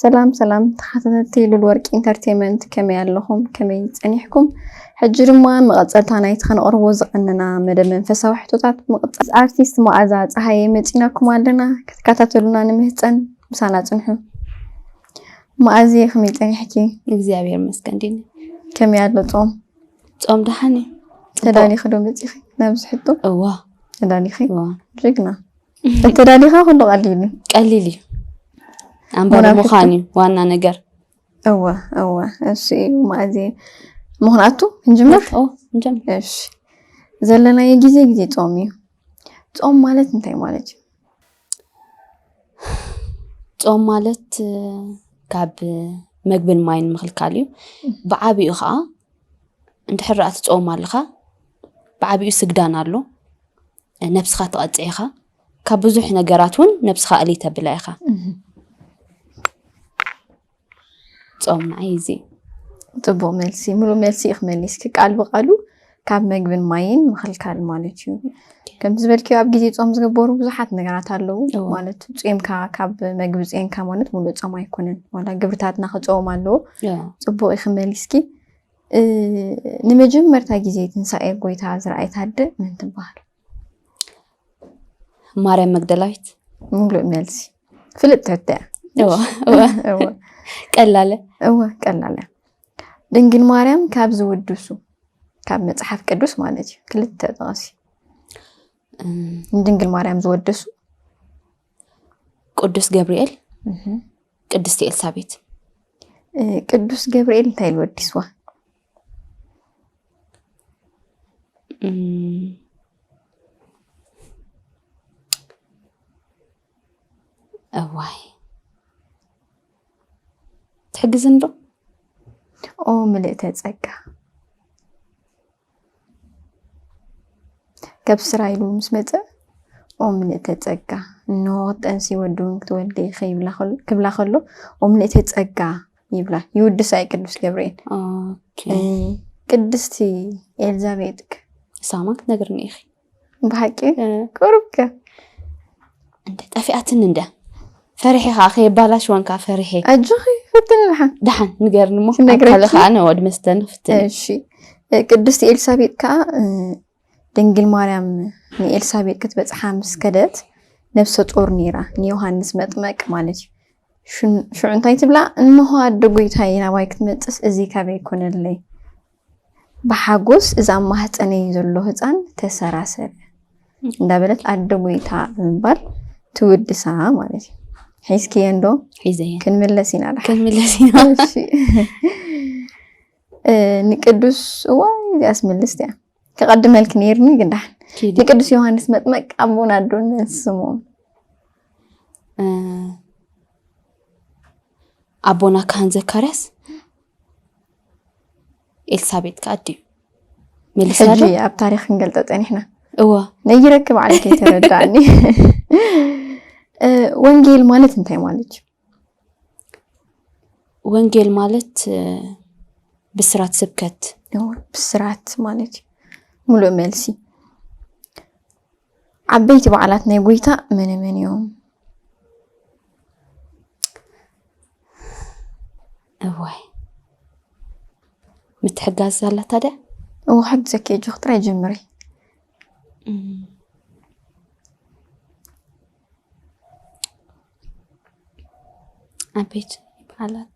ሰላም ሰላም ተኻታተልቲ ሉል ወርቂ ኢንተርቴመንት ከመይ ኣለኹም ከመይ ጸኒሕኩም ሕጂ ድማ መቐጸልታ ናይቲ ከነቕርቦ ዝቐነና መደብ መንፈሳዊ ሕቶታት ምቕጻል ኣርቲስት መኣዛ ጸሃየ መጺናኩም ኣለና ክትከታተሉና ንምህጸን ምሳና ጽንሑ መኣዝየ ከመይ ጸኒሕኪ እግዚኣብሔር መስገን ዲኒ ከመይ ኣሎ ጾም ጾም ደሓን እዩ ተዳሊኺ ዶ መጺኺ ናብዚ ሕቶ እዋ ተዳሊኺ ጀግና እንተዳሊኻ ኩሉ ቀሊል እዩ ቀሊል እዩ ኣንባቢ ምዃን እዩ ዋና ነገር እወ እወ እሱ እዩ ማእዚ ምክንያቱ ንጅምር ንጀምር እሺ ዘለናዮ ግዜ ግዜ ፆም እዩ ፆም ማለት እንታይ ማለት እዩ ፆም ማለት ካብ መግብን ማይን ምክልካል እዩ ብዓብኡ ከዓ እንድሕር ኣ ትፀወም ኣለካ ብዓብኡ ስግዳን ኣሎ ነብስኻ ትቐጽዕ ኢኻ ካብ ብዙሕ ነገራት እውን ነብስኻ እልይ ተብላ ኢኻ ጾም ንዓይ እዚ ፅቡቅ መልሲ ሙሉእ መልሲ እዩ ክመሊስኪ ቃል ብቃሉ ካብ መግብን ማይን ምክልካል ማለት እዩ ከም ዝበልኪ ኣብ ግዜ ፆም ዝግበሩ ብዙሓት ነገራት ኣለው እዎ። ማለት ፅምካ ካብ መግቢ ፅንካ ማለት ሙሉእ ፆም ኣይኮነን ዋላ ግብርታትና ክፀዎም ኣለዎ እዎ። ፅቡቅ እዩ ክመሊስኪ ንመጀመርታ ግዜ ትንሳኤ ጎይታ ዝረኣየት ኣደ መን ትበሃል? ማርያም መግደላዊት። ምሉእ መልሲ ፍልጥ ተተ ቀላለ እወ ቀላለ ድንግል ማርያም ካብ ዝውድሱ ካብ መፅሓፍ ቅዱስ ማለት እዩ ክልተ ጠቐሲ ንድንግል ማርያም ዝወደሱ ቅዱስ ገብርኤል፣ ቅድስቲ ኤልሳቤት። ቅዱስ ገብርኤል እንታይ ኢሉ ወዲስዋ? እዋይ ትሕግዝንዶ ኦ ምልእተ ጸጋ ካብ ስራ ኢሉ ምስ መፀ ኦም ምልእተ ፀጋ እንሆ ክትጠንሲ ወዲ እውን ክትወልዲ ኢኺ ይብላ ከሎ- ክብላ ከሎ ኦም ምልእተ ፀጋ ይብላ ይውድሳ እዩ ቅዱስ ገብርኤል ኦኬ ቅድስቲ ኤልዛቤጥ ክ- ንሳ ማ ክትነግርኒ ኢኺ ብሓቂ ቅሩብ ከ እንደ ጠፊኣትን እንደ ፈሪሒ ከዓ ከየባላሽወን ከዓ ፈሪሒ ኣጆኺ ፍትን ድሓን ድሓን ንገርኒ እሞ ክነግረኪ። ኣካለ ከዓ ነወድ መስተን ፍትን እሺ ቅድስቲ ኤልሳቤጥ ከዓ እ፣ ድንግል ማርያም ንኤልሳቤጥ ክትበፅሓ ምስ ከደት ነብሰ ጦር ነይራ ንዮሃንስ መጥመቅ ማለት እዩ ሽን- ሽዑ እንታይ ትብላ እንሆ ኣደ ጎይታዬ ናባይ ክትመፅስ እዚ ካበይ ኮነለይ ብሓጎስ እዛ ኣብ ማህጸነይ ዘሎ ህጻን ተሰራሰር እንዳበለት ኣደ ጎይታ ብምባል ትውድሳ ማለት እዩ። ሒዝክየ እንዶ ሒዘየ ክንምለስ ኢና ዳ ክንምለስ ኢና እሺ እ፣ ንቅዱስ እዋይ እዚኣስ ምልስቲ እያ ከቐድመልኪ ነይርኒ ግን ዳሕን ኪዲ ንቅዱስ ዮሃንስ መጥመቅ ኣቦን ኣዶን መን ስሙ እ፣ ኣቦና ካህን ዘካርያስ ኤልሳቤጥ ከኣ ድዩ መሊሳ ሕጂ ዶ ኣብ ታሪኽ ክንገልጠ ጸኒሕና እወ ነይረኪ ባዕልኪ ተረዳእኒ እ፣ ወንጌል ማለት እንታይ ማለት እዩ ወንጌል ማለት እ፣ ብስራት ስብከት እወ፣ ብስራት ማለት እዩ ሙሉእ መልሲ ዓበይቲ በዓላት ናይ ጎይታ መነ መን እዮም እዋይ ምትሕጋዝ ዛላ ታዲያ እዎ ሓግዘኪ እጆክ ጥራይ ጀምሪ ኣቤት ይበዓላት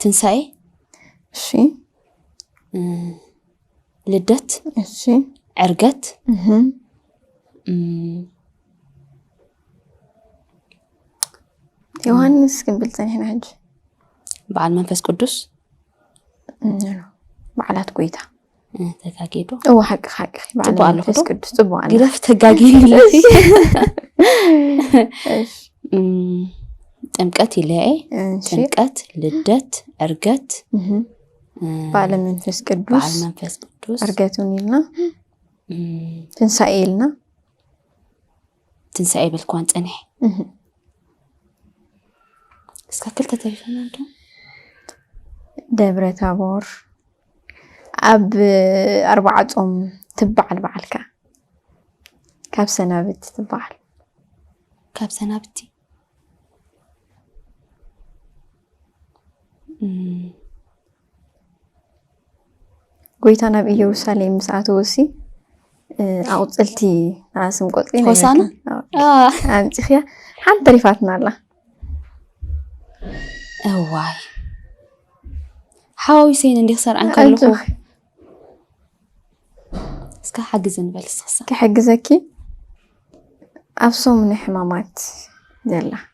ትንሳኤ እሺ ልደት እሺ ዕርገት ዮሃንስ ክንብል ፀኒሕና ሕጂ በዓል መንፈስ ቅዱስ በዓላት ጎይታ ተጋጊዶ እዎ ሓቂ ሓቂ በዓል ጽቡቅ ኣለኹ መንፈስ ዶ? ቅዱስ ፅቡቅ ኣለ ግደፍ ተጋጊን ብለሲ ጥምቀት ይለየ እሺ ጥምቀት ልደት ዕርገት እህ። እ፣ በዓለ መንፈስ በዓል ቅዱስ መንፈስ ቅዱስ ዕርገቱን ኢልና እም፣ ትንሳኤ ኢልና ትንሳኤ ይበልክዋን ፀኒሐ እስካብ ክልተ ተሪፈና ዶ ደብረ ታቦር ኣብ ኣርባዓ ፆም ትበዓል በዓልካ ካብ ሰናብቲ ትበዓል ካብ ሰናብቲ ጎይታ ናብ ኢየሩሳሌም ምስ ኣተወሲ ኣቑፅልቲ ኣስም ቆፅሊ ሆሳና ኣምፂኽያ ሓንቲ ተሪፋትና ኣላ እዋይ ሓዋዊሰይን እንዲኽ ሰርዐን ከለኹ እስከ ሓግዝ ንበል ስክሳ ክሕግዘኪ ኣብ ሶሙነ ሕማማት ዘላ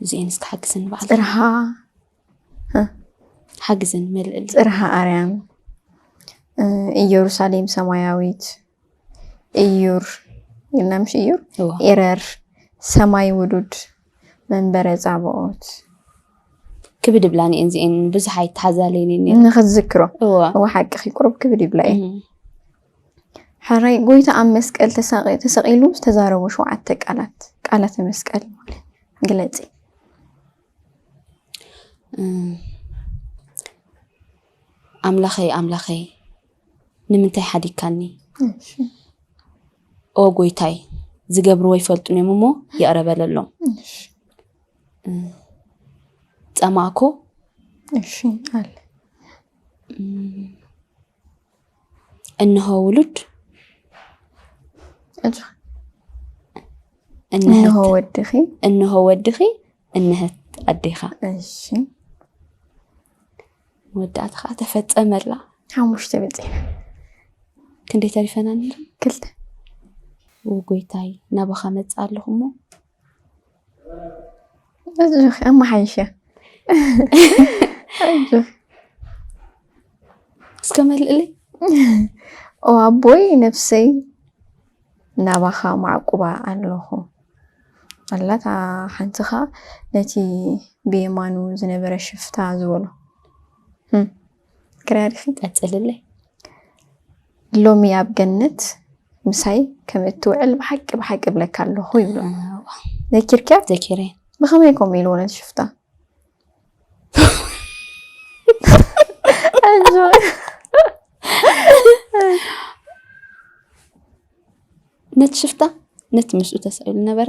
እዚኤን እስኪ ሓግዝን በዓል ፅርሃ ሓግዝን መልእል ፅርሃ ኣርያም እ፣ ኢየሩሳሌም ሰማያዊት እዩር ኢልና ምሽ እዩር እዋ ኤረር ሰማይ ውዱድ መንበረ ጻብኦት ክብድ ብላን እየን እዚኤን ብዙሕ ኣይተሓዛለየን እየን ነይረን። ንክትዝክሮ እዋ እዋ ሓቅኺ ቁሩብ ክብድ ይብላ እየ እም። ሐራይ ጎይታ ኣብ መስቀል ተሳቂ ተሰቂሉ ዝተዛረቦ ሸውዓተ ቃላት ቃላተ መስቀል ማለት ግለጺ። ኣምላኸይ ኣምላኸይ ንምንታይ ሓዲግካኒ? ኦ ጎይታይ ዝገብርዎ ይፈልጡን እዮም እሞ ይቕረ በለሎም። ጸማእኩ እሺ ኣለ እነሆ ውሉድ እነሆ ወድኺ እነሆ ወድኺ እነህት ኣዴኻ እሺ መወዳእታ ከዓ ተፈፀመላ ሓሙሽተ በፂና ክንደይ ተሪፈና ክልተ ጎይታይ ናባኻ መፅእ ኣለኹ እሞ እዙኽ ኣመሓይሸ እስከ መልእለይ ኣቦይ ነፍሰይ ናባኻ ማዕቁባ ኣለኹ ኣላታ ሓንቲኻ ነቲ ብየማኑ ዝነበረ ሽፍታ ዝበሎ ክራርፊ ቀጽልለይ ሎሚ ኣብ ገነት ምሳይ ከም እትውዕል ብሓቂ ብሓቂ እብለካ ኣለኹ ይብሎ ዘኪርኪያ ዘኪረ ብኸመይ ከምኡ ኢልዎ ነቲ ሽፍታ ነቲ ሽፍታ ነቲ ምስኡ ተሰቂሉ ነበረ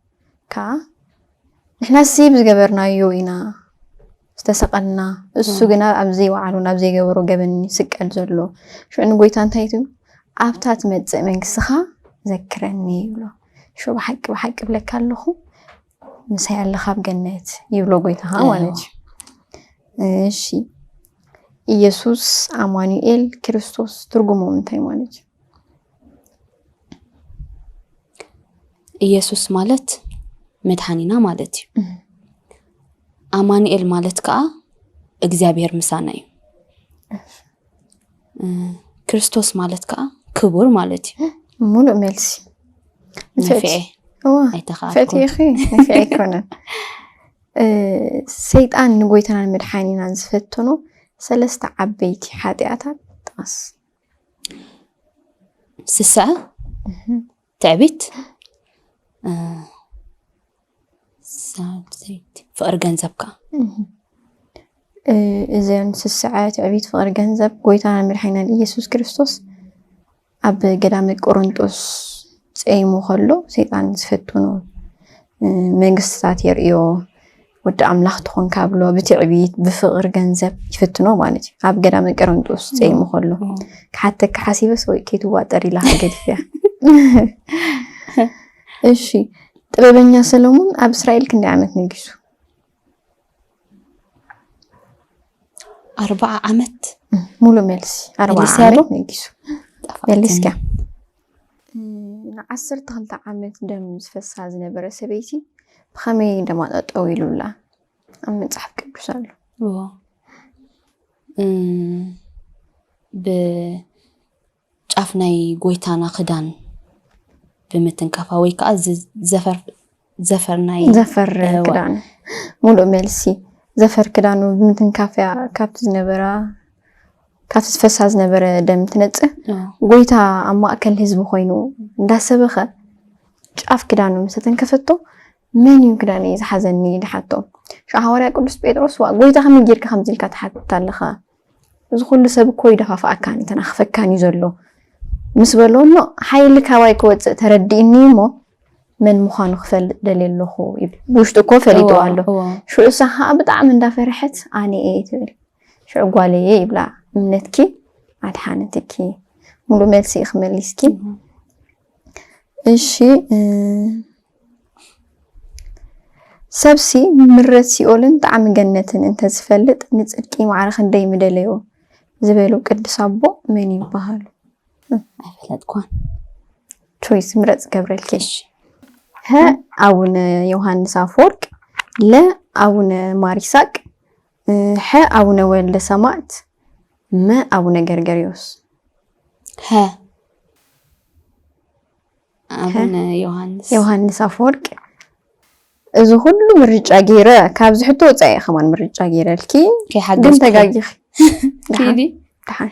ከኣ ንሕናሲ ብዝገበርናዮ ኢና ዝተሰቐልና፣ እሱ ግና ኣብ ዘይወዓሎ ናብ ዘይገበሮ ገበን እዩ ዝስቀል ዘሎ። ሽዑ ንጎይታ እንታይ ትብሉ? ኣብታ ትመጽእ መንግስትኻ ዘክረኒ ይብሎ። ሽዑ ብሓቂ ብሓቂ እብለካ ኣለኹ ምሳይ ኣለኻ ኣብ ገነት ይብሎ ጎይታኻ ማለት እዩ። እሺ ኢየሱስ ኣማኑኤል ክርስቶስ ትርጉሞም እንታይ ማለት እዩ? ኢየሱስ ማለት መድኃኒና ማለት እዩ ኣማንኤል ማለት ከዓ እግዚኣብሔር ምሳና እዩ ክርስቶስ ማለት ከዓ ክቡር ማለት እዩ ሙሉእ መልሲ ንፍዔ ኣይተኸኣልኩን ንፍዔ ኣይኮነን ሰይጣን ንጎይታናን መድሓኒናን ዝፈተኖ ሰለስተ ዓበይቲ ሓጢኣታት ጥቐስ ስስዐ፣ ትዕቢት፣ ፍቕሪ ገንዘብ ከዓ እዘን ስስዐ፣ ትዕቢት፣ ፍቕሪ ገንዘብ ጎይታና መድሓኒናን ኢየሱስ ክርስቶስ ኣብ ገዳመ ቆሮንጦስ ፀይሙ ከሎ ሰይጣን ዝፈትኑ መንግስትታት የርእዮ ወዲ ኣምላኽ ትኹን ካብሎ ብትዕቢት ብፍቕሪ ገንዘብ ይፍትኖ ማለት እዩ ኣብ ገዳመ ቀረንጦስ ፀይሙ ከሎ ክሓተካ ሓሲበ ሰው ከይትዋጠር ኢላ ገዲፍያ እሺ ጥበበኛ ሰለሙን ኣብ እስራኤል ክንደይ ዓመት ነጊሱ ኣርባዓ ዓመት ሙሉ መልሲ ኣርባዓ ዓመት ነጊሱ መልስካ ንዓሰርተ ክልተ ዓመት ደም ዝፈሳ ዝነበረ ሰበይቲ ብኸመይ ደማ ጠጠው ኢሉላ ኣብ መፅሓፍ ቅዱስ ኣሎ ብጫፍ ናይ ጎይታና ክዳን ብምትንካፋ ወይ ከዓ ዘፈር ናይ ዘፈር ክዳኑ ሙሉእ መልሲ ዘፈር ክዳኑ ብምትንካፍ እያ ካብቲ ዝነበራ ካብቲ ዝፈሳ ዝነበረ ደም ትነፅህ ጎይታ ኣብ ማእከል ህዝቢ ኮይኑ እንዳሰበኸ ጫፍ ክዳኑ ምስ ተንከፈቶ መን እዩ ክዳን እዩ ዝሓዘኒ ድሓቶ ሻ ሃዋርያ ቅዱስ ጴጥሮስ ዋ ጎይታ ከመይ ጌርካ ከምዚ ኢልካ ትሓትት ኣለኻ እዚ ኩሉ ሰብ እኮ ይደፋፍኣካን ይተናኽፈካን እዩ ዘሎ ምስ በሎ እሞ ሓይሊ ካባይ ክወፅእ ተረዲእኒ እሞ መን ምዃኑ ክፈልጥ ደልየ ኣለኹ ይብል ብውሽጡ እኮ ፈሊጡ ኣሎ ሽዑ እሳ ከዓ ብጣዕሚ እንዳፈርሐት ኣነ እየ ትብል ሽዑ ጓለ እየ ይብላ እምነትኪ ኣድሓነትኪ ሙሉ መልሲ እዩ ክመሊስኪ እሺ ሰብሲ ምረት ሲኦልን ጣዕሚ ገነትን እንተዝፈልጥ ንጽድቂ ማዕረ ክንደይ ምደለዮ ዝበሉ ቅዱስ ኣቦ መን ይበሃሉ? ኣይፈለጥኳን። ቾይስ ምረጽ ገብረልኬሽ ሀ አቡነ ዮሐንስ አፈወርቅ ለ አቡነ ማሪሳቅ ሐ ኣቡነ ወልደ ሰማእት መ ኣቡነ ገርገርዮስ ሐ ኣቡነ ዮሃንስ ዮሃንስ ኣፈወርቅ እዚ ኩሉ ምርጫ ገይረ ካብዚ ሕቶ ወፃኢ ከማን ምርጫ ገይረልኪ ግን ተጋጊኺ ኪዲ ደሓን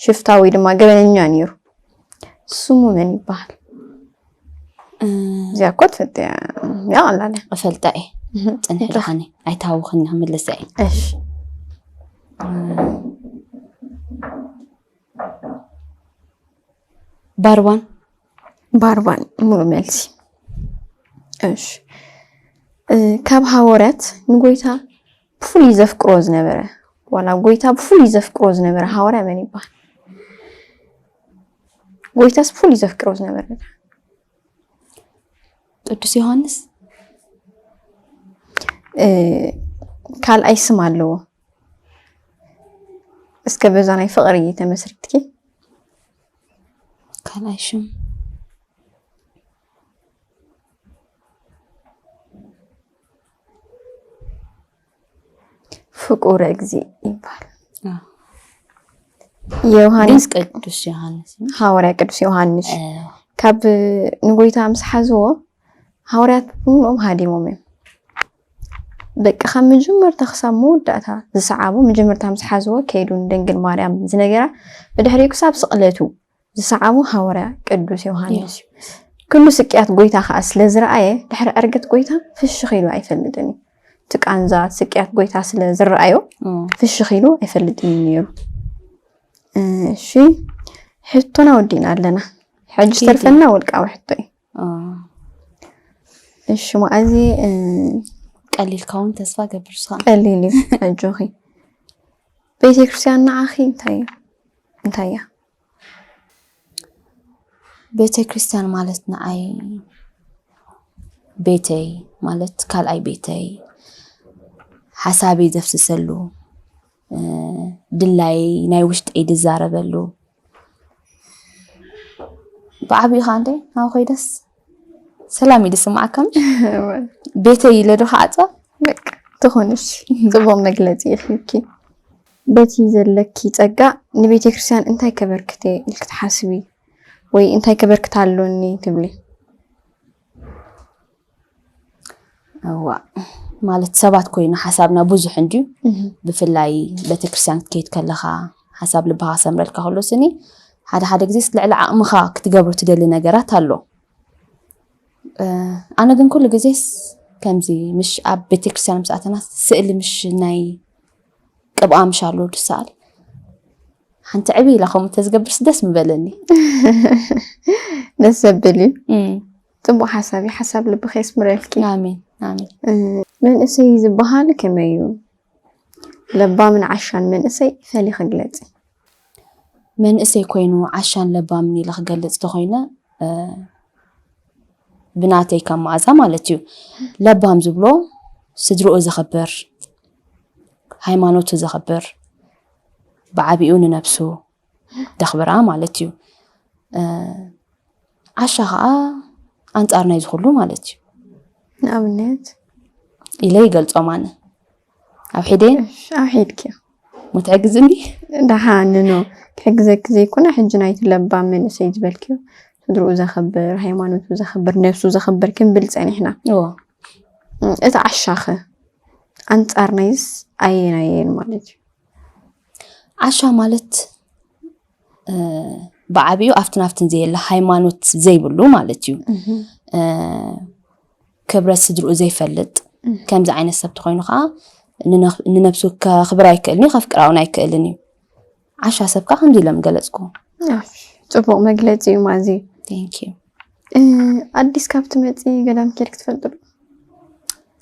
ሽፍታ ወይ ድማ ገበነኛ ነይሩ ስሙ መን ይበሃል? እዚኣ እኮ ትፈልጥያ እያ ቀላል እያ እፈልጣ እየ ፅንሒ ድኻኒ ኣይታወኽን ክምልሰ እየ እሺ ባርባን ባርባን ሙሉ መልሲ እሺ እ፣ ካብ ሃወርያት ንጎይታ ብፍሉይ ዘፍቅሮ ዝነበረ ዋላ ጎይታ ብፍሉይ ዘፍቅሮ ዝነበረ ሃዋርያ መን ይበሃል? ጎይታስ ብፍሉይ ዘፍቅሮ ዝነበረ ቅዱስ ዮሐንስ ካልኣይ ስም ኣለዎ። እስከ በዛ ናይ ፍቅሪ ተመስርትኪ ካልኣይ ሽም ፍቁረ እግዚእ ይባል ዮሃንስ ቅዱስ ዮሃንስ ሃዋርያ ቅዱስ ዮሃንስ ካብ ንጎይታ ምስ ሓዝዎ ሃዋርያት ኩሎም ሃዲሞም እዮም በቂ ካብ መጀመርታ ክሳብ መወዳእታ ዝሰዓቡ መጀመርታ ምስ ሓዝዎ ከይዱ ንድንግል ማርያም ዝነገራ ብድሕሪኡ ክሳብ ስቕለቱ ዝሰዓቦ ሃወርያ ቅዱስ ዮሃንስ እዩ። ክሉ ስቅያት ጎይታ ከኣ ስለ ዝረኣየ ድሕሪ ዕርገት ጎይታ ፍሽኽ ኢሉ ኣይፈልጥን እዩ። እቲ ቃንዛ እቲ ስቅያት ጎይታ ስለ ዝረኣዮ ፍሽኽ ኢሉ ኣይፈልጥን እዩ ነይሩ። እሺ ሕቶና ወዲእና ኣለና። ሕጂ ዝተርፈና ውልቃዊ ሕቶ እዩ። እሺ መዓዚ ቀሊልካ እውን ተስፋ ገብር ስኻ ቀሊል እዩ ኣጆኺ ቤተ ክርስቲያን ንዓኺ እንታይ እዩ እንታይ እያ ቤተ ክርስቲያን ማለት ንዓይ ቤተይ ማለት ካልኣይ ቤተይ ሓሳበይ ዘፍስሰሉ ድላይ ናይ ውሽጠይ ዝዛረበሉ ብዓብኡ ከዓ እንዴ ናብ ኮይደስ ሰላም እዩ ዝስማዓካም ቤተይ ኢለ ዶ ክዓፅዋ በቃ ትኾንሽ ፅቡቕ መግለፂ ይፍኪ በቲ ዘለኪ ፀጋ ንቤተ ክርስቲያን እንታይ ከበርክተ ኢልክ ትሓስቢ ወይ እንታይ ከበርክት ኣሎኒ ትብሊ? እዋእ ማለት ሰባት ኮይኑ ሓሳብና ብዙሕ እንድዩ ብፍላይ ቤተክርስትያን ክትከይድ ከለኻ ሓሳብ ልብኻ ክሰምረልካ ከሎ ስኒ ሓደ ሓደ ግዜ ልዕሊ ዓቕምኻ ክትገብሮ ትደሊ ነገራት ኣሎ እ፣ ኣነ ግን ኩሉ ግዜስ ከምዚ ምሽ ኣብ ቤተክርስትያን ምስ ኣተና ስእሊ ምሽ ናይ ቅብኣ ምሽ ኣሎ ድሰኣል ሓንቲ ዕብይ ኢላ ከምኡ ተዝገብርስ ደስ ምበለኒ ደስ ዘብል እዩ እም፣ ጽቡቅ ሓሳብ እዩ ሓሳብ ልብኺ የስምረልኪ። ኣሜን ኣሜን። መንእሰይ ዝበሃል ከመይ እዩ? ለባምን ዓሻን መንእሰይ ፈሊኺ ግለጺ። መንእሰይ ኮይኑ ዓሻን ለባምን ኢለ ክገልጽ ተኾይነ ብናተይ ከም መኣዛ ማለት እዩ ለባም ዝብሎ ስድርኡ ዘኽብር ሃይማኖቱ ዘኽብር ብዓቢኡ ንነብሱ ደኽብራ ማለት እዩ ዓሻ ከዓ ኣንፃር ናይ ዝኩሉ ማለት እዩ ንኣብነት ኢለ ይገልፆም ኣነ ኣብ ሒደ ኣብ ሒድኪ ምትሕግዝኒ ዳሓንኖ ክሕግዘኪ ዘይኮነ ሕጂ ናይቲ ለባም መንእሰይ ዝበልክዮ ስድርኡ ዘኽብር ሃይማኖቱ ዘኽብር ነብሱ ዘኽብር ክንብል ፀኒሕና እቲ ዓሻኸ ኣንፃር ናይስ ኣየናየን ማለት እዩ ዓሻ ማለት ብዓብኡ ኣብትን ኣብትን ዘየለ ሃይማኖት ዘይብሉ ማለት እዩ ክብረት ስድርኡ ዘይፈልጥ ከምዚ ዓይነት ሰብ ተኮይኑ ከዓ ንነብሱ ከክብር ኣይክእልን እዩ ከፍቅራውን ኣይክእልን እዩ ዓሻ ሰብ ከዓ ከምዚ ኢሎም ገለፅኩ ፅቡቅ መግለፂ እዩ ማዚ ኣዲስ ካብ ትመፂ ገዳም ኬድክ ትፈልጡ ዶ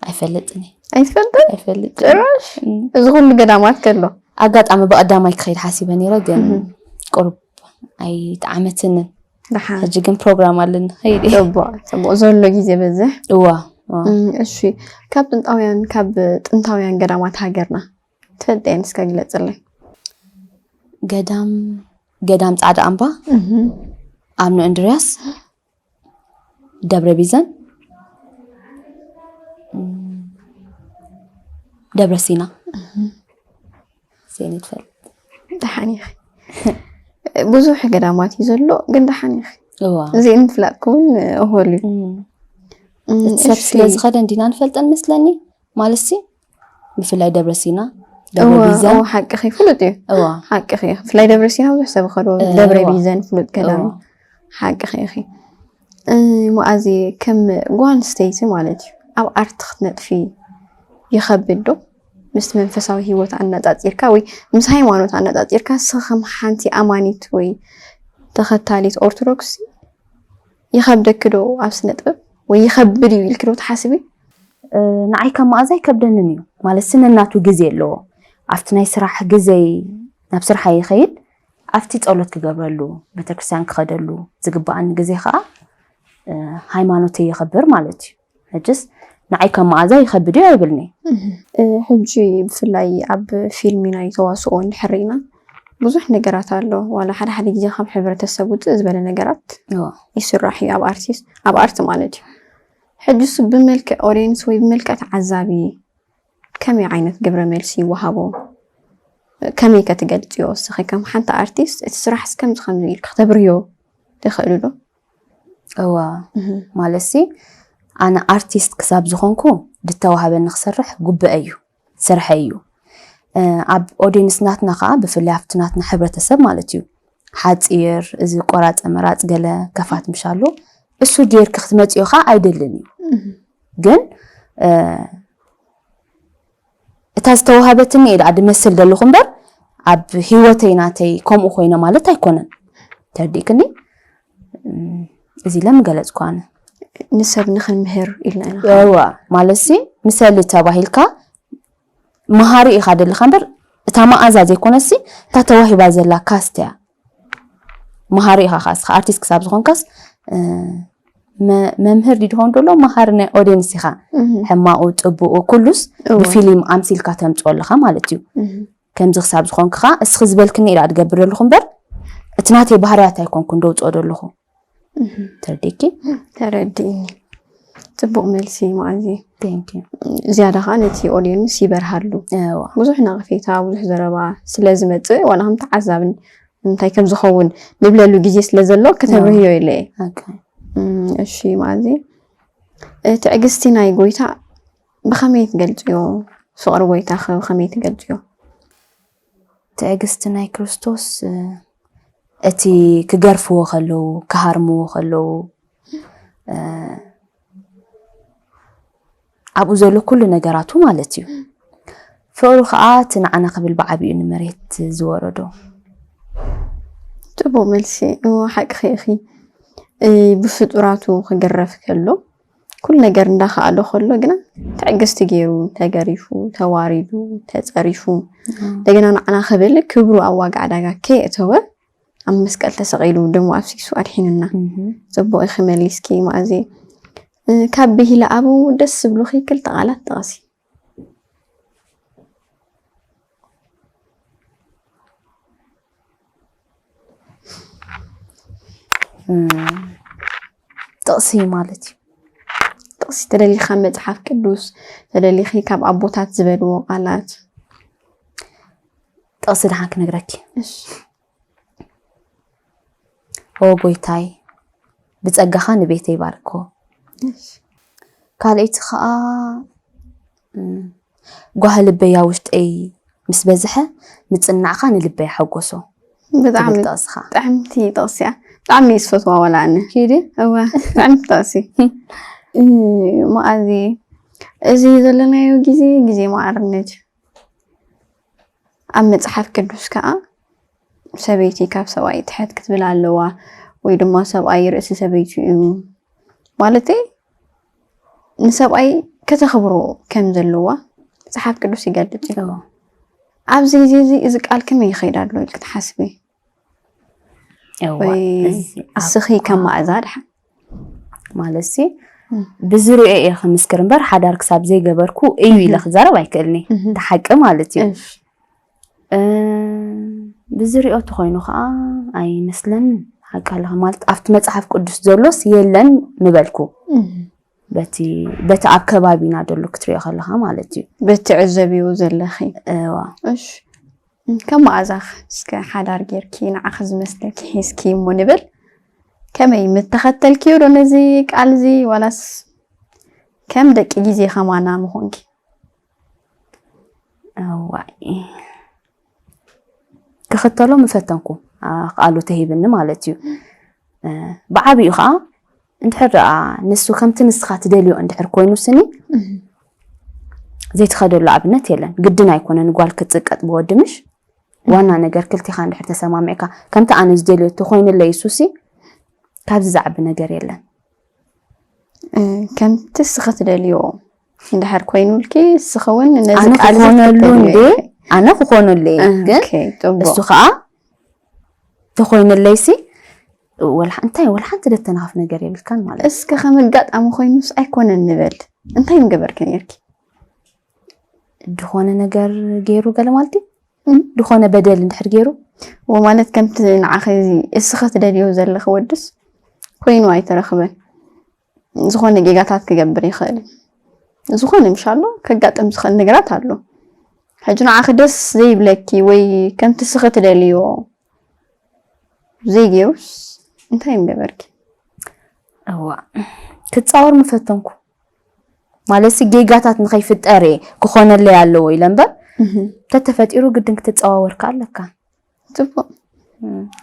ኣይፈልጥን እየ ኣይትፈልጥን ኣይፈልጥን ጭራሽ እም። እዚ ኩሉ ገዳማት ከሎ ኣጋጣሚ ብቀዳማይ ክኸይድ ሓሲበ ነይረ ግን እም። ቁሩብ ኣይጠዓመትንን ደሓን ሕጂ ግን ፕሮግራም ኣለኒ ኸይድ እየ ጽቡቅ ጽቡቅ ዘሎ ግዜ በዝሕ እዋ እዋ። እም፣ እሺ ካብ ጥንታውያን ካብ ጥንታውያን ገዳማት ሃገርና ትፈልጠየን እስከ ግለጽለይ ገዳም ገዳም ጻዕዳ ኣምባ እም፣ ኣብነ እንድርያስ ደብረ ቢዘን ደብረ ሲና ዜን ትፈልጥ ደሓን ኢኺ ብዙሕ ገዳማት እዩ ዘሎ ግን ደሓን ኢኺ እዋ እዚ ምፍላጥ ክውን እሆል እዩ እቲ ሰብ ስለ ዝኸደ እንዲና ንፈልጠን መስለኒ ማለትሲ ብፍላይ ደብረ ሲና ደብረ ቢዘን ሓቅኺ ፍሉጥ እዩ እዋ ሓቅኺ እዩ ብፍላይ ደብረ ሲና ብዙሕ ሰብ ከዶ ደብረ ቢዘን ፍሉጥ ገዳም እዩ ሓቅኺ ኢኺ ሙኣዚ ከም ጓል ኣንስተይቲ ማለት እዩ ኣብ ኣርቲ ክትነጥፊ ይኸብድ ዶ ምስ መንፈሳዊ ሂወት ኣነፃፂርካ ወይ ምስ ሃይማኖት ኣነፃፂርካ ስኸም ሓንቲ ኣማኒት ወይ ተኸታሊት ኦርቶዶክስ ይኸብደኪ ዶ ኣብ ስነ ጥበብ ወይ ይኸብድ እዩ ኢልኪ ዶ ትሓስቢ? ንዓይ ካብ መኣዝ ኣይከብደንን እዩ ማለትሲ ነናቱ ግዜ ኣለዎ ኣብቲ ናይ ስራሕ ግዘይ ናብ ስርሓይ ይኸይድ ኣብቲ ፀሎት ክገብረሉ ቤተክርስትያን ክኸደሉ ዝግበኣኒ ግዜ ከዓ ሃይማኖተይ የኽብር ማለት እዩ። ሕጅስ ንዓይ ከም መኣዛ ይኸብድ እዩ ኣይብልኒ ሕጂ ብፍላይ ኣብ ፊልም ናይ ተዋስኦ እንድሕር ርኢና ብዙሕ ነገራት ኣሎ ዋላ ሓደ ሓደ ግዜ ካብ ሕብረተሰብ ውፅእ ዝበለ ነገራት እዎ ይስራሕ እዩ ኣብ ኣርቲስት ኣብ ኣርት ማለት እዩ ሕጂ እሱ ብመልክዕ ኦዲየንስ ወይ ብመልክዕ ተዓዛቢ ከመይ ዓይነት ግብረ መልሲ ይወሃቦ ከመይ ከ ትገልፅዮ እስኺ ከም ሓንቲ ኣርቲስት እቲ ስራሕ እስከምዚ ከምዚ ኢልኪ ክተብርዮ ትኽእሉ ዶ እወ ማለትሲ ኣነ ኣርቲስት ክሳብ ዝኾንኩ ዝተዋህበኒ ክሰርሕ ጉብአ እዩ ስርሐይ እዩ ኣብ ኦዲየንስ ናትና ከዓ ብፍላይ ኣብቲ ናትና ሕብረተሰብ ማለት እዩ ሓፂር እዚ ቆራፀ መራፅ ገለ ከፋት ምሻሉ እሱ ጌርክ ክትመፅዮ ከዓ ኣይደልን እዩ ግን እታ ዝተዋሃበትኒ ኢየ ድመስል ደለኹ እምበር ኣብ ሂወተይ ናተይ ከምኡ ኮይነ ማለት ኣይኮነን ተርዲእክኒ እዚ ኢለ ምገለጽኩ ኣነ ንሰብ ንክንምህር ኢልና ኢና እዋ ማለትሲ ምሰሊ ተባሂልካ መሃሪ ኢኻ ደለኻ እምበር እታ መኣዛ ዘይኮነሲ እታ ተዋሂባ ዘላ ካስት እያ መሃሪ ኢኻ ካስ ኣርቲስት ክሳብ ዝኾንካስ መምህር ዲድኾን ደሎ መሃሪ ናይ ኦዲየንስ ኢኻ ሕማኡ ፅቡኡ ኩሉስ ብፊልም ኣምሲልካ ተምፅኦ ኣለኻ ማለት እዩ ከምዚ ክሳብ ዝኾንክኻ እስኺ ዝበልክኒ ኢላ ድገብር ደለኹ እምበር እቲ ናተይ ባህርያት ኣይኮንኩን ደውፅኦ ደለኹ ተርዲኪ ተረዲእኒ ፅቡቅ መልሲ ማዓዚ ቴንኪ ዝያዳ ከዓ ነቲ ኦድየንስ ይበርሃሉ እዋ ብዙሕ ነቕፌታ ብዙሕ ዘረባ ስለ ዝመፅእ ዋላ ከም ተዓዛብን እንታይ ከም ዝኸውን ንብለሉ ግዜ ስለ ዘሎ ከተብርህዮ ኢለ እየ ኦኬ እም፣ እሺ ማዚ ትዕግስቲ ናይ ጎይታ ብኸመይ ትገልፅዮ ፍቕሪ ጎይታኸ ብኸመይ ትገልፅዮ ትዕግስቲ ናይ ክርስቶስ እቲ ክገርፍዎ ከለዉ ክሃርምዎ ከለዉ ኣብኡ ዘሎ ኩሉ ነገራቱ ማለት እዩ ፍቕሩ ከዓ እቲ ንዓና ክብል ብዓብኡ ንመሬት ዝወረዶ ጥቡቕ መልሲ እሞ ሓቅኺ ኢኺ ብፍጡራቱ ክግረፍ ከሎ ኩሉ ነገር እንዳኸኣሎ ከሎ ግና ትዕግስቲ ገይሩ ተገሪፉ ተዋሪዱ ተፀሪፉ እንደገና ንዓና ክብል ክብሩ ኣብ ዋጋ ዕዳጋ ከየእተወ ኣብ መስቀል ተሰቒሉ ደሞ ኣፍሲሱ ኣድሒኑና ፅቡቕ ኢኺ መሊስኪ ማእዜ ካብ ብሂለ ኣብኡ ደስ ዝብሉኺ ክልተ ቃላት ጥቐሲ ጥቕሲ ማለት እዩ ጥቕሲ ተደሊኻ መፅሓፍ ቅዱስ ተደሊኺ ካብ ኣቦታት ዝበልዎ ቃላት ጥቕሲ ድሓን ክነግረኪ ኦ ጎይታይ ብጸጋኻ ንቤተይ ባርኮ ካልኣይቲ ከዓ ጓህ ልበያ ውሽጠይ ምስ በዝሐ ምጽናዕካ ንልበይ ሓጎሶ ብጣዕሚ ጥቕስኻ ጥዕምቲ ጥቕሲ እያ ብጣዕሚ እየ ዝፈትዋ ዋላ ኣነ ኪዲ እወ ጥዕምቲ ጥቕሲ መኣዚ እዚ ዘለናዮ ግዜ ግዜ መዓርነት ኣብ መጽሓፍ ቅዱስ ከዓ ሰበይቲ ካብ ሰብኣይ ትሕት ክትብል ኣለዋ ወይ ድማ ሰብኣይ ርእሲ ሰበይቱ እዩ ማለተይ ንሰብኣይ ከተኽብሮ ከም ዘለዋ መጽሓፍ ቅዱስ ይገልጽ እዩ ኣብዚ ግዜ እዚ እዚ ቃል ከመይ ይኸይድ ኣሎ ኢልክ ትሓስቢ እስኺ ከም ማእዛ ድሓን ማለት ሲ ብዝርኦ እየ ክምስክር እምበር ሓዳር ክሳብ ዘይገበርኩ እዩ ኢለ ክዛረብ ኣይክእልኒ እቲ ሓቂ ማለት እዩ ብዝርኦ ተኮይኑ ከዓ ኣይመስለን ሓቂ ኣለካ ማለት ኣብቲ መፅሓፍ ቅዱስ ዘሎስ የለን ምበልኩ በቲ በቲ ኣብ ከባቢና ዘሎ ክትሪኦ ከለካ ማለት እዩ በቲ ዕዘብዎ ዘለኺ እዋ እሺ ከም መኣዛኽ እስከ ሓዳር ጌርኪ ንዓኺ ዝመስለኪ ሒዝኪ እሞ ንብል ከመይ ምተኸተልክዮ ዶ ነዚ ቃል እዚ ዋላስ ከም ደቂ ግዜ ከማና ምኾንኪ እዋይ ክኽተሎ ምፈተንኩ ቃሉ ተሂብኒ ማለት እዩ ብዓብኡ ከዓ እንድሕር ደኣ ንሱ ከምቲ ንስኻ ትደልዮ እንድሕር ኮይኑ ስኒ ዘይትኸደሉ ኣብነት የለን። ግድን ኣይኮነን ጓል ክትጽቀጥ ብወዲ ምሽ ዋና ነገር ክልቲኻ እንድሕር ተሰማሚዕካ ከምቲ ኣነ ዝደልዮ ተኮይንለይ እሱሲ ካብዚ ዝዓቢ ነገር የለን። ከምቲ እስኺ ትደልዮ እንድሕር ኮይኑልኪ እስኺ እውን ነዚ ኣነ ቃል ክኾነሉ እንዴ ኣነ ክኾነሉ እየ ግን እሱ ከዓ ተኾይነለይሲ ወላ እንታይ ወላ ሓንቲ ደተናኸፍ ነገር የብልካን ማለት እስከ ከም ኣጋጣሚ ኮይኑስ ኣይኮነን ንበል እንታይ ምገበርኪ ነርኪ ድኾነ ነገር ገይሩ ገለ ማለት እዩ ድኾነ በደል እንድሕር ገይሩ ወማለት ከምቲ ንዓኸ እዚ እስኸ ትደልዮ ዘለኺ ወድስ ኮይኑ ኣይተረኽበን ዝኾነ ጌጋታት ክገብር ይኽእል ዝኾነ ምሻሎ ከጋጥም ዝኽእል ነገራት ኣሎ ሕጂ ንዓኺ ደስ ዘይብለኪ ወይ ከምቲ ስኺ ትደልዮ ዘይገይሩስ እንታይ ምገበርኪ እዋ ክፃወር ምፈተንኩ ማለት ጌጋታት ንኸይፍጠር ክኾነለይ ኣለዎ ኢለ እምበር ተተፈጢሩ ግድን ክትፀዋወርካ ኣለካ ፅቡቅ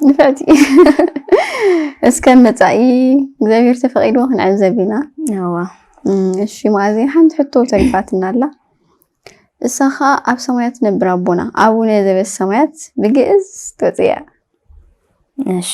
ንፍዕቲ እስከ መፃኢ እግዚኣብሔር ተፈቂድዎ ክንዕዘብ ኢና እዋ እሺ ማእዜ ሓንቲ ሕቶ ተሪፋትና ኣላ እሳ ከዓ ኣብ ሰማያት ነብር ኣቦና ኣቡነ ዘበሰማያት ብግእዝ ትወፅእ እያ እሺ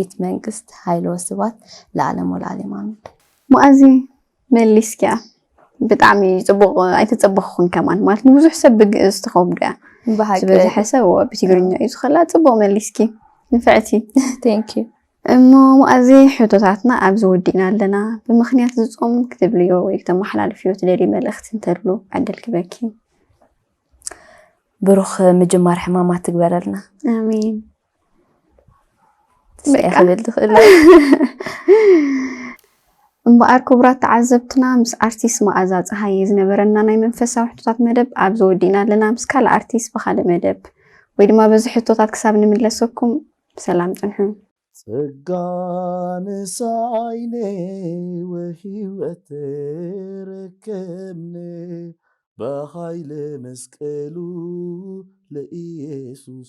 ኢት መንግስት ሃይል ወስባት ለኣለም ወለኣሌም ኣሜን። መኣዚ መሊስኪያ ብጣዕሚ ጽቡቕ ኣይተጸበኽኹን ከማን ማለት ንብዙሕ ሰብ ብግእዝ ትኸብዶ እያ ብሓቂ ዝበዝሐ ሰብ እዎ ብትግርኛ እዩ ዝኸላ ጽቡቕ መሊስኪ ንፍዕቲ ቴንክ ዩ እሞ መኣዚ ሕቶታትና ኣብዚ ወዲእና ኣለና ብምኽንያት ዝጾም ክትብልዮ ወይ ክተመሓላልፍዮ ትደልዩ መልእኽቲ እንተሉ ዕድል ክበኪ ብሩኽ ምጅማር ሕማማት ትግበረልና ኣሜን ክብል ትኽእል እምበኣር ክቡራት ተዓዘብትና ምስ ኣርቲስት መኣዛ ፀሃየ ዝነበረና ናይ መንፈሳዊ ሕቶታት መደብ ኣብዚ ወዲእና ኣለና ምስ ካልእ ኣርቲስት ብካልእ መደብ ወይ ድማ በዚ ሕቶታት ክሳብ ንምለሰኩም ብሰላም ፅንሑ ጸጋ ንሳይነ ወህይወት ረከብነ በሃይለ መስቀሉ ለኢየሱስ